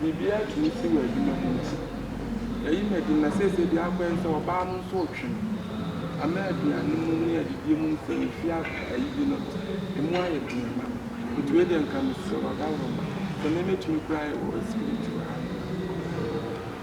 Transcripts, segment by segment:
Biribiara tumi si wɔ adwuma mu nti, yɛayi Madi na seesei deɛ akɔ ne sɛ ɔbaa no nso retwe no ama aduane mu ne adidie mu nsɛm no fie ayi bi no, ɛmu ayɛ den ma nti wei deɛ nka mesrɛ wo Adaworo ma sɛ me mɛtumi koraa ayɛ wɔ security wɔ ha nom.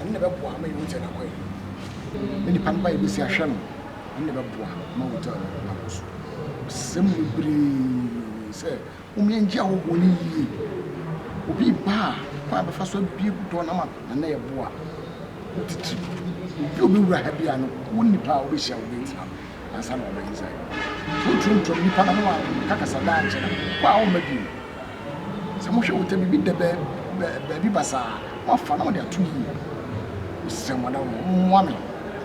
Ɛno na ɛbɛboa ma yɛhu sɛ nakɔ yɛ no. Ne nipa no ba yɛbɛsi ahwɛ no. Ɛno na ɛbɛboa ma hotel no akɔ so. Ɔsɛ mu bebree sɛ mommyɛngye ahohoɔ no yie. Obi reba a, kwan a bɛfa so abue door no ama na na ɛboa titiri. Obi a ɔbɛwura ha biara no, wo nipa a wobɛhyia wo bɛntena no ansa na waba inside. Sɛ woturom turom nipa no ho a, ɔkakasa daa nkyɛ na wo a womma bio. Sɛ mohwɛ wota biribi da baabi basaa a, moafa na mode ato ne mu. Mesrɛ mo adamfo, mommoa me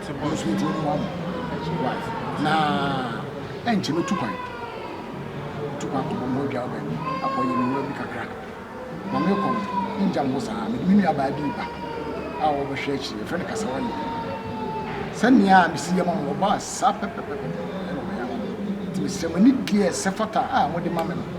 sɛ me nso metumi mmoa mo. Na ɛnkyɛ mɛtu kwan. Mɛtu kwan akɔbɔ me ho adwaa baabi, akɔyɛ me nnwuma bi kakra. Na merekɔ no, mongya me hɔ saa. Mede me nuabaa bi reba a wɔbɛhwɛ akyiri. Yɛfrɛ no Kasawani. Sɛnea mesi yɛ ma no, ɔbaa saa pɛpɛpɛpɛ na ɔyɛ ama me. Enti mesrɛ mo, anigyeɛ a ɛsɛ fata a mode ma me no,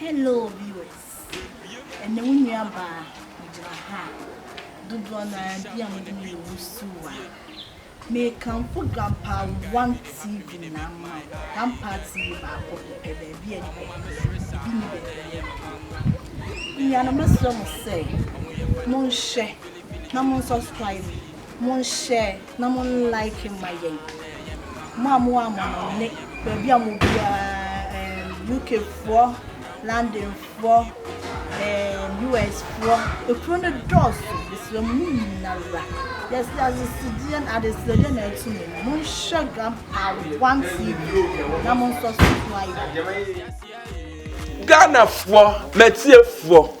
Hello viewers, ɛnɛ wo nua baa megyina ha a dodoɔ no ara bi a mo de me yɛ wusiw a mekamfo Grandpa One TV na ama Grandpa TV baako pɛ baabi a nipa bi bɛyɛ obi ni baabi a yɛ no nua no mɛsrɛ mo sɛ monhwɛ na mo subscribe monhyɛ Na mo like ma yɛn. Mo a mo wɔ amɔnɔne baabi a mo biara um, UK foɔ, London foɔ, um, US foɔ, ekuro no dɔɔso, mesrɛ mo mo nyinara. Yɛsi adesedeɛ na adesedeɛ na ɛto mu. Mo nhwɛ Grandpa One TV na mo nsɔ so so ayɛ. Ghanafoɔ, m'atiefoɔ.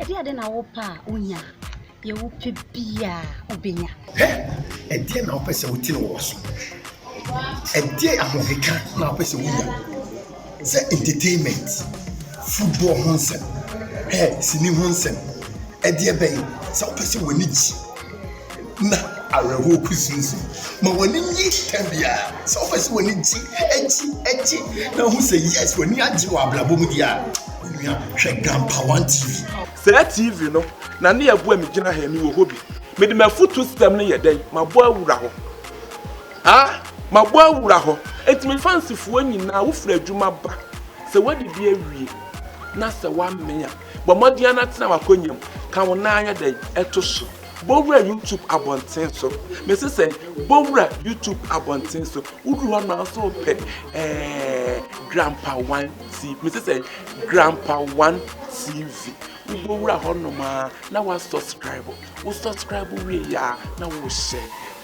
Ɛdeɛn de na wopɛ a wonya? Deɛ wopɛ biara wobɛnya. Hɛ! Ɛdeɛn na wopɛ sɛ wotene wɔ so? Ɛdeɛn ahokeka na wopɛ sɛ wonya? Sɛ entertainment, football ho nsɛm, hɛ, sini ho nsɛm, ɛdeɛ bɛn? Sɛ wopɛ sɛ w'ani gye. na awerɛhoɔ kusinsin. Ma w'ani nye tɛm biara. Sɛ wopɛ sɛ w'ani gye, gye, gye, na wohu sɛ yes, w'ani agye wɔ abrabɔ mu deɛ a, onua, hwɛ Gampa One TV. Saa TV no na ne ɛboa me gyina ha yi, mewɔ hɔ bi. Mede m'afutuo system no yɛ dɛn? Mabɔ awura hɔ. Ah, mabɔ awura hɔ. Enti me fansifoɔ nyinaa, wofiri adwuma ba, sɛ woadidi awie, na sɛ woamee a, bɔ mmɔden ara na tena w'akonnwa mu, ka wo nan ayɛ dɛn? To so. Bɔwura YouTube abɔnten so. Mese sɛ bɔwura YouTube abɔnten so. Woduru hɔ na nso pɛ ɛɛ Grandpa One TV. Mese sɛ Grandpa One TV. Wobɛwura hɔ nom a na wa subscribe. Wo subscribe wie yɛ a na wo hyɛ.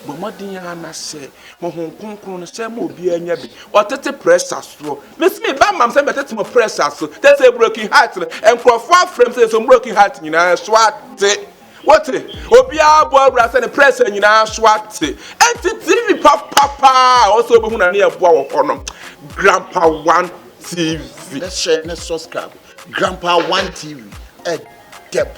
Bɔ mmɔden a na hyɛ. Honhom kronkron no hyɛ ma obiara nya bi. Ɔtete pressure soɔ. Mese me ba mam sɛ mɛtete mo pressure so. Tete broken heart no. Nkurɔfoɔ afrɛ m sɛ nso broken heart nyinaa so ate. Wote? Obiara bɔ awura sɛ ne prɛsɛ nyinaa so ate. Enti TV papa paa a ɔsɛ obehu na ne yɛ boa wɔ hɔ no. Grandpa One TV. Bɛhyɛ ne subscribe. Grandpa One TV. Ɛdɛ bɔ.